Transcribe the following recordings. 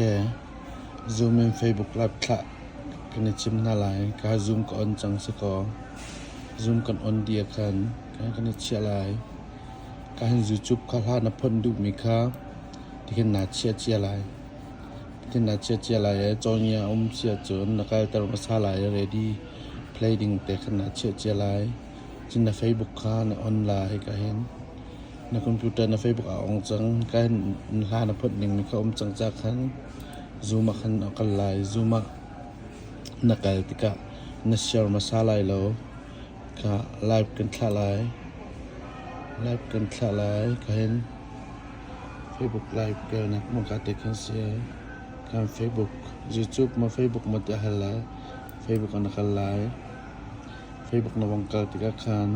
Zoom in Facebook Live thlah kan i cim hna lai. Ka Zoom ka on cang si kaw, Zoom kan on dih ahkhan kan i chiah lai. Ka hin YouTube kha hla na phawt duhmi kha tihin naa chiah cia lai. Tihin naa chiah cia lai i cawhngia a um si ahcun na kalter hmasa lai i ready play ding te khan naa chiah cia lai. Cun na Facebook kha na on lai ka hin. Na computer na Facebook ah a ong cang. Kai hla na phawt ningmi kha a um cang ca khan Zoom ah khan a kal lai. Zoom ah na kal tikah na share hmasa lai lo. Kha live kan thlah lai. Live kan thlah lai. Kha hin Facebook live kal nak maw ka te khan si ai. Kan Facebook, YouTube ma Facebook ma te hal lai. Facebook ah na kal lai. Facebook na wong kal tikah khan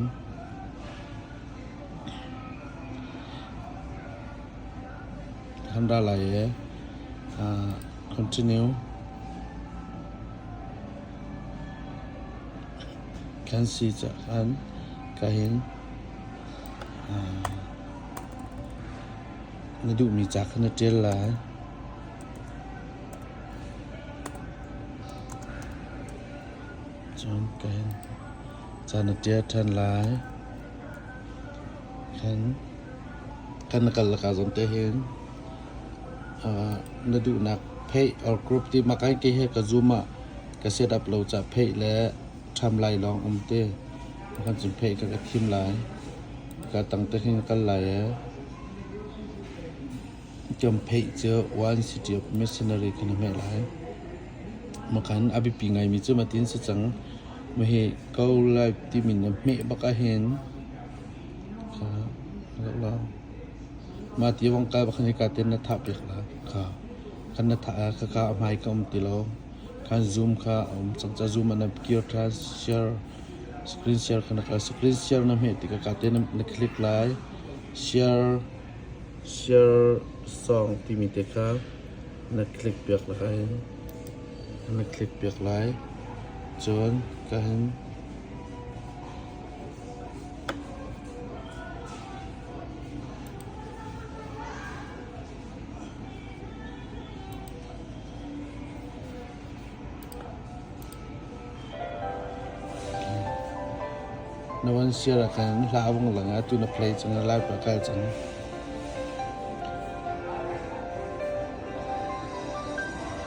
Kan ra lai i aa continue. Kan si caan ka hin aa na duhmi ca kha na ṭial lai. Cun ka hin Ca na ṭial ṭhan lai. Khan kan na kal laka zong te hin uh, na duhnak pheih or group ti makai ke he ka zoom ah ka set up lo ca pheih le ṭham lai lawng um ti kan cun pheih ka ka thim lai ka tang te hin kal lai ee Icuampheih cu One City of Mercenary kha na hmeh lai. Makhan a biapi ngaimi cu matin si cang. Mahi Go Live timi na hmeh bak ahhin mah ti wangkai bak khan hika ten na thah piak lai. Khan na thah ah khaka a hmai ka um ti lo. Khan Zoom kha a um cang. Ca Zoom ah na kir ṭhan. Share screen share kha na kal. Screen share na hmeh tikah ka ten na click lai. Share Siarsawng timi te kha na click piak lai. Na click piak lai. Cun ka hin Na van siar ahkhan hla a vung lang i atu na play cang i Laipa kal cang.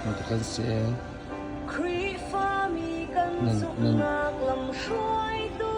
Mata kan si e. Khrihfami kan zumhnak lam hruaitu